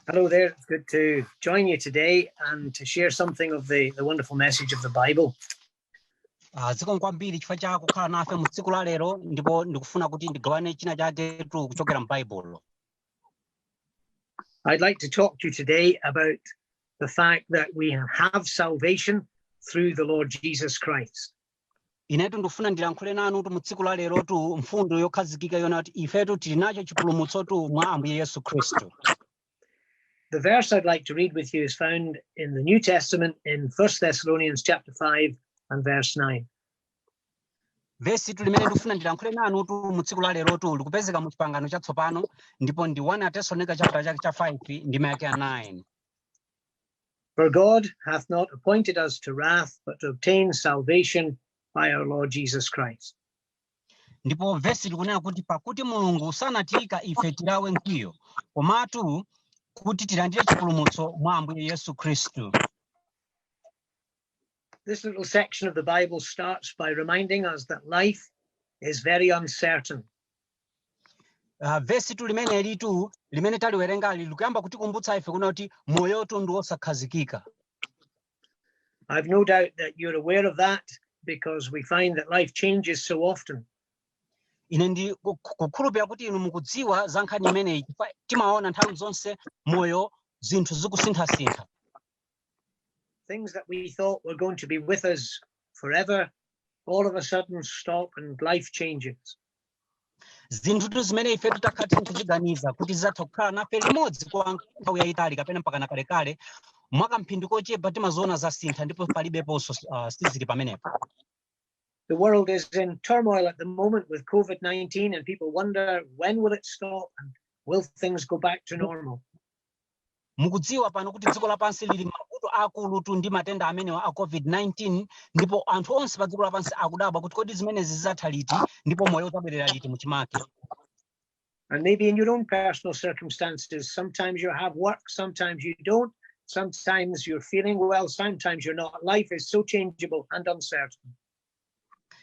Hello there. It's good to join you today and to share something of the, the wonderful message of the Bible. Ah, zikomo kwambiri chifukwa cha kukhala nafe mu tsiku la lero ndipo ndikufuna kuti ndigawane china chaketu kuchokera m'baibulo I'd like to talk to you today about the fact that we have salvation through the Lord Jesus Christ. inetu ndikufuna ndilankhule nanutu mu tsiku la lerotu mfundo yokhazikika yonena kuti ifetu tili nacho chipulumutsotu mwa ambuye yesu khristu The verse I'd like to read with you is found in the New Testament in 1 Thessalonians chapter 5 and verse 9. vesitu limene ndikufuna ndilankhule nanutu mu tsiku la lerotu likupezeka mu chipangano chatsopano ndipo ndi 1 atesalonika chapter chake cha 5 ndime yake ya 9 For God hath not appointed us to wrath, but to obtain salvation by our Lord Jesus Christ. ndipo vesili likunena kuti pakuti mulungu sanatiika ife tilawe mkwiyo komatu kuti tilandire chipulumutso mwa ambuye yesu khristu This little section of the Bible starts by reminding us that life is very uncertain. Uh, vesitu limenelitu limene taliwerengali likuyamba kutikumbutsa ife kunena kuti moyotu ndi wosakhazikika I've no doubt that you're aware of that because we find that life changes so often. ine ndiku- ku- kukhulupirira kuti inu mukudziwa za nkhani imeneyi chifukwa timaona nthawi zonse moyo zinthu zikusinthasintha Things that we thought were going to be with us forever, all of a sudden stop and life changes. zinthutu zimene ifetu takhala tiri kuziganiza kuti zidzatha kukhala nafe limodzi kwa nthawi yayitali kapena mpakana kalekale mwa kamphindi kochepa timaziona zasintha ndipo palibeponso uh, sizili pamenepo The world is in turmoil at the moment with COVID 19, and people wonder when will it stop and will things go back to normal? Mukudziwa pano kuti dziko lapansi lili m'mavuto aakulutu ndi matenda amenewa a COVID-19 ndipo anthu onse pa dziko lapansi akudabwa kuti kodi zimenezi zidzatha liti ndipo moyo udzabwerera liti muchimake. And maybe in your own personal circumstances, sometimes you have work, sometimes you don't, sometimes you're feeling well, sometimes you're not. Life is so changeable and uncertain.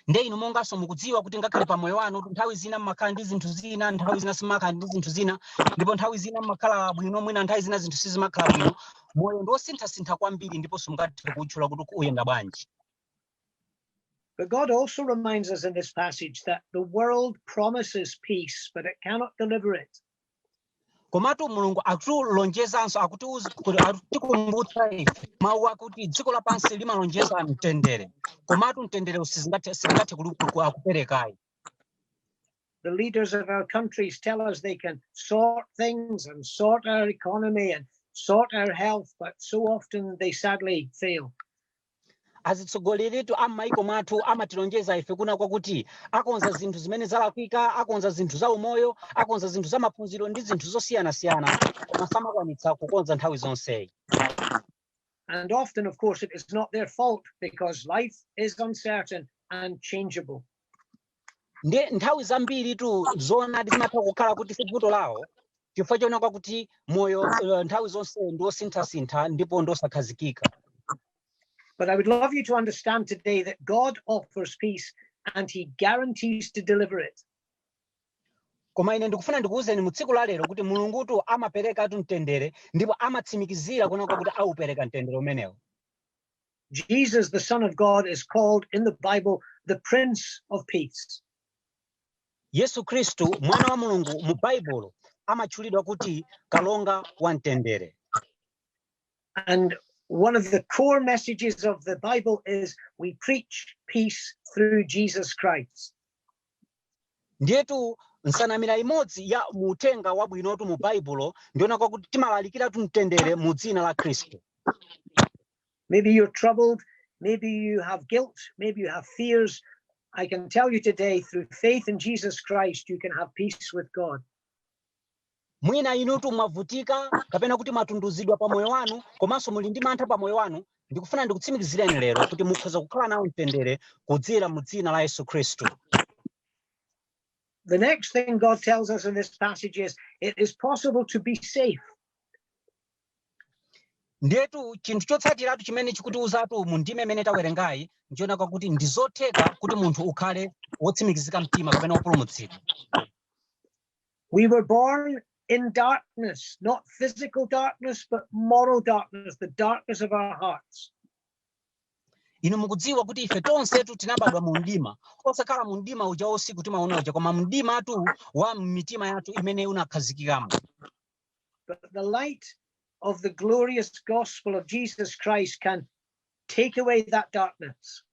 nde inu monganso mukudziwa kuti ngakhale pa moyo wanutu nthawi zina mmakhala ndi zinthu zina nthawi zina simmakhala ndi zinthu zina ndipo nthawi zina mmakhala bwino mwina nthawi zina zinthu sizimakhala bwino moyo ndi wosinthasintha kwambiri ndipo simungathe kuutchula kuti uyenda bwanji But God also reminds us in this passage that the world promises peace, but it cannot deliver it. komatu mulungu akutulonjezanso akutiuza kuti akutikumbutsa ife mawu akuti dziko lapansi limalonjeza mtendere komatu mtenderewu sizingathe sizingathe kuli- ku- kuperekayi The leaders of our countries tell us they can sort things and sort our economy and sort our health, but so often they sadly fail. azitsogoleritu a m'maiko mwathu amatilonjeza ife kuona kwakuti akonza zinthu zimene zalakwika akonza zinthu za umoyo akonza zinthu za maphunziro ndi zinthu zosiyanasiyana koma samakwanitsa kukonza nthawi zonseyi And often, of course, it is not their fault because life is uncertain and changeable. ndiye nthawi zambiritu zoonadi zimatha kukhala kuti si vuto lawo chifukwa choona kwakuti moyo eh, nthawi zonse ndi wosinthasintha ndipo ndi wosakhazikika But I would love you to understand today that God offers peace and he guarantees to deliver it. koma ine ndikufuna ndikuwuzeni mu tsiku la lero kuti mulungutu amaperekatu mtendere ndipo amatsimikizira kuona kwakuti aupereka mtendere umenewo Jesus, the Son of God, is called in the Bible the Prince of Peace. Yesu Khristu, mwana wa Mulungu mu Baibulo, amatchulidwa kuti kalonga wa mtendere. And one of the core messages of the Bible is we preach peace through Jesus Christ. Ndiyetu nsanamira imodzi ya mu uthenga wabwinotu mu Baibulo ndi yoona kwakuti timalalikiratu mtendere mu dzina la Khristu. Maybe you're troubled. Maybe you have guilt. Maybe you have fears. I can tell you today, through faith in Jesus Christ, you can have peace with God. mwina inutu mwavutika kapena kuti mwatunduzidwa pa moyo wanu komanso muli ndi mantha pa moyo wanu ndikufuna ndikutsimikizireni lero kuti mukhoza kukhala nawo mtendere kudzera mu dzina la yesu khristu The next thing God tells us in this passage is it is possible to be safe. ndiyetu chinthu chotsatiratu chimene chikutiuzatu mu ndime imene tawerengayi ndi choona kwakuti ndi zotheka kuti munthu ukhale wotsimikizika mtima kapena wopulumutsidwa we were born in darkness not physical darkness but moral darkness the darkness of our hearts inu mukudziwa kuti ife tonsetu tinabadwa mu mdima osakhala mu mdima uja usiku timaona uja koma mdimatu wa mitima yathu imene unakhazikikamo But the light of the glorious gospel of Jesus Christ can take away that darkness.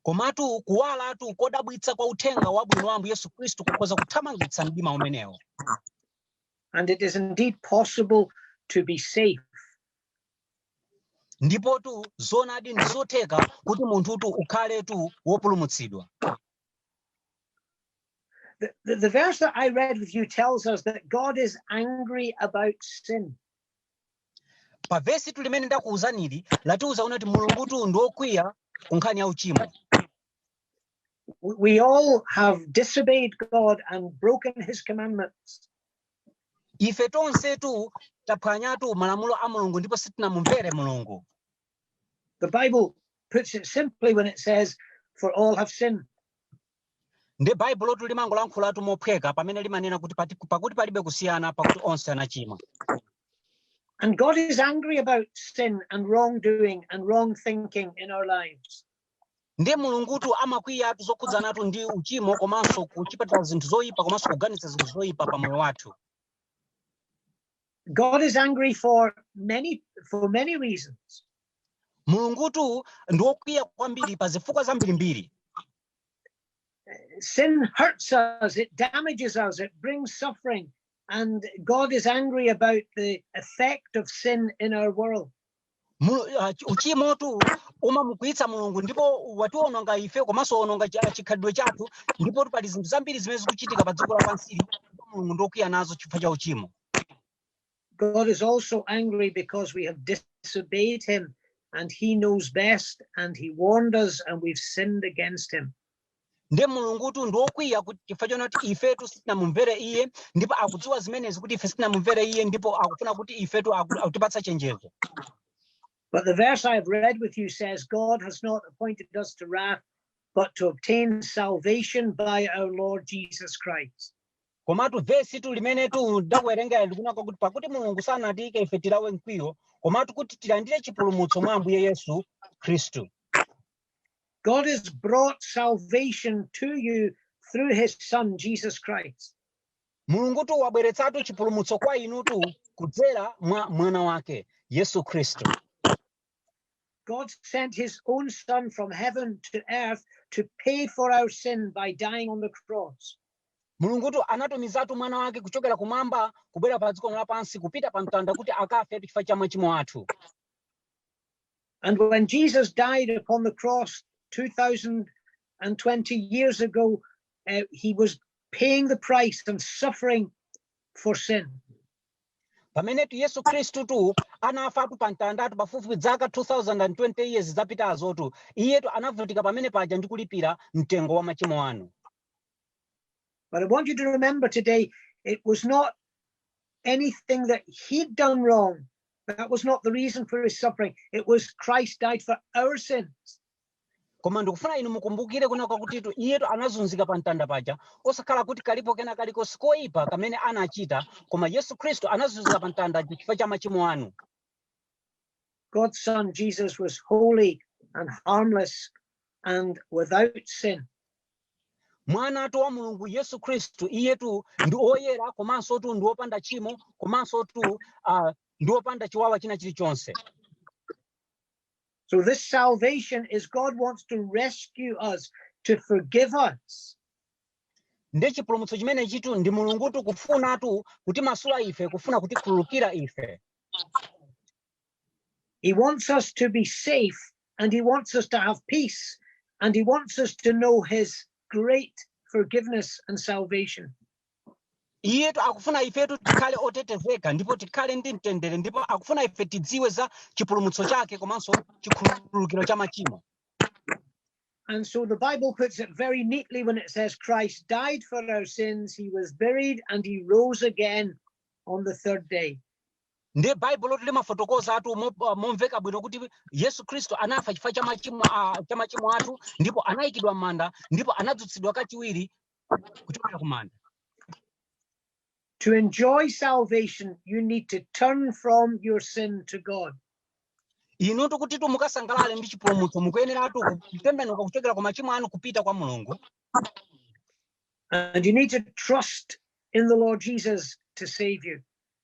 komatu kuwalatu kodabwitsa kwa uthenga wabwino wa ambuye yesu khristu kukhoza kuthamangitsa mdima umenewo And it is indeed possible to be safe. ndipotu zoonadi ndi zotheka kuti munthutu ukhaletu wopulumutsidwa The, the, the verse that I read with you tells us that God is angry about sin. pa vesi tu limene ndakuwuzanili likutiwuza kuti mulungu tu ndi wokwiya ku nkhani ya uchimo We- We all have disobeyed God and broken his commandments. ife tonsetu taphwanyatu malamulo a mulungu ndipo sitinamumvere mulungu The Bible puts it simply when it says, For all have sinned. nde baibulotu limangolankhulatu mophweka pamene limanena kuti pati- pakuti palibe kusiyana pakuti onse anachimwa And God is angry about sin and wrongdoing and wrong thinking in our lives. nde mulungutu amakwiyatu zokhudzanatu ndi uchimo komanso kuchita zinthu zoyipa komanso kuganiza zinthu zoyipa pa moyo wathu God is angry for many for many reasons. mulungutu ndi wokwiya kwambiri pa zifukwa zambirimbiri Sin hurts us, it damages us, it brings suffering, and God is angry about the effect of sin in our world. Mulu- ah, chi- uchimotu umamukwiyitsa mulungu ndipo watiwononga ife komanso wawononga chi- ah, chikhalidwe chathu ndipotu pali zinthu zambiri zimene zikuchitika pa dziko lapansili ndipo mulungu ndokwiya nazo chifukwa cha uchimo God is also angry because we have disobeyed him, and he knows best, and he warned us, and we've sinned against him. nde mulungutu ndi wokwiya kuti chifukwa chona kuti ifetu sitinamumvere iye ndipo akudziwa zimenezi kuti ife sitinamumvere iye ndipo akufuna kuti ifetu aku- akutipatsa chenjezo But the verse I've read with you says, God has not appointed us to wrath, but to obtain salvation by our Lord Jesus Christ. komatu vesi tu limene tu ndakuwerengera likunena kuti pakuti mulungu sanatiyike ife tilawe mkwiyo komatu kuti tilandire chipulumutso mwa ambuye yesu khristu God has brought salvation to you through his son, Jesus Christ. mulungutu wabweretsatu chipulumutso kwa inutu kudzera mwa mwana wake yesu khristu God sent his own son from heaven to earth to pay for our sin by dying on the cross. mulungutu anatumizatu mwana wake kuchokera kumwamba kubwera pa dziko lapansi kupita pa mtanda kuti akafetu chifukwa cha machimo athu And when Jesus died upon the cross 2020 years ago, uh, he was paying the price and suffering for sin. pamenetu yesu khristu tu anafatu pa mtandatu pafupifupi dzaka 2020 years zapitazotu iyetu anavutika pamene paja ndi kulipira mtengo wa machimo anu But I want you to remember today, it was not anything that he'd done wrong. That was not the reason for his suffering. It was Christ died for our sins. koma ndikufuna inu mukumbukire kunena kwakutitu iyetu anazunzika pa mtanda paja osakhala kuti kalipo kena kalikonse koyipa kamene anachita koma yesu khristu anazunzika pa mtanda chifukwa cha machimo anu God's son Jesus was holy and harmless and without sin. mwanatu wa mulungu yesu khristu iyetu ndi oyera komanso tu ndi wopanda tchimo komanso tu uh, ndi wopanda chiwawa china chilichonse So this salvation is God wants to rescue us, to forgive us. nde chipulumutso chimenechitu ndi mulungutu kufunatu kutimasula ife kufuna kutikhululukira ife He wants us to be safe and he wants us to have peace and he wants us to know his great forgiveness and salvation. iyetu akufuna ifetu tikhale otetezeka ndipo tikhale ndi mtendere ndipo akufuna ife tidziwe za chipulumutso chake komanso chikhululukiro cha machimo And so the Bible puts it very neatly when it says Christ died for our sins, he was buried, and he rose again on the third day. ndiye baibulotu limafotokozatu mo- momveka bwino kuti yesu khristu anafa chifukwa cha machimo a- cha machimo athu ndipo anayikidwa m'manda ndipo anadzutsidwa kachiwiri kuchokera ku manda To enjoy salvation, you need to turn from your sin to God. inutu kutitu mukasangalale ndi chipulumutso mukuyeneratu kutembenuka kuchokera ku machimo anu kupita kwa mulungu And you need to trust in the Lord Jesus to save you.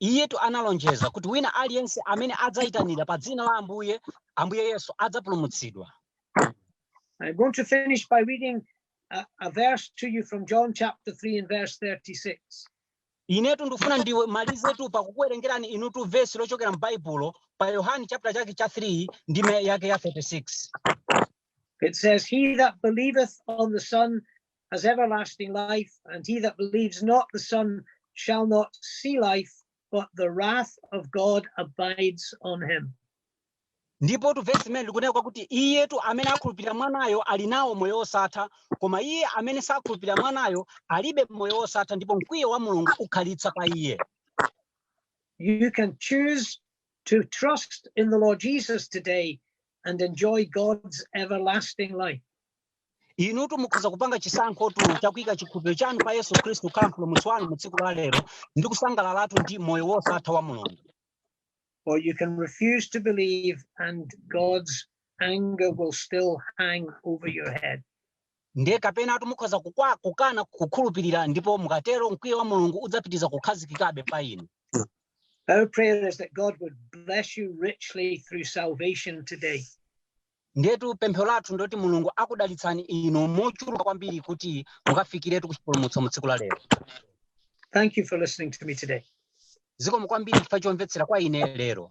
Iyetu analonjeza kuti wina aliyense amene adzaitanira pa dzina la Ambuye, Ambuye Yesu adzapulumutsidwa. I'm going to finish by reading a, a verse to you from John chapter 3 and verse 36. Inetu ndikufuna ndi- ndimalizetu pakukuwerengerani inutu vesi lochokera m'Baibulo pa Yohane chapter chake cha 3 ndime yake ya 36. It says, He that believeth on the Son has everlasting life, and he that believes not the Son shall not see life, but the wrath of God abides on him. ndipotu vesi limeneli likunena kwakuti iyetu amene akhulupirira mwanayo ali nawo moyo wosatha koma iye amene sakhulupirira mwanayo alibe moyo wosatha ndipo mkwiyo wa mulungu ukhalitsa pa iye You can choose to trust in the Lord Jesus today and enjoy God's everlasting life. inutu mukhoza kupanga chisankho tu chakuika chikhulupiriro chanu pa yesu khristu kukhala mpulumutsi wanu mu tsiku la lero ndi kusangalalatu ndi moyo wosatha wa mulungu or you can refuse to believe and god's anger will still hang over your head ndiye kapenatu mukhoza kukwa- kukana kukhulupirira ndipo mukatero mkwiyo wa mulungu udzapitiriza kukhazikikabe pa inu our prayer is that god would bless you richly through salvation today Ndiyetu pemphero lathu ndoti Mulungu akudalitseni inu mochuluka kwambiri kuti mukafikiretu kuchipulumutso mu tsiku la lero. Thank you for listening to me today. Zikomo kwambiri chifukwa chomvetsera kwa ine lero.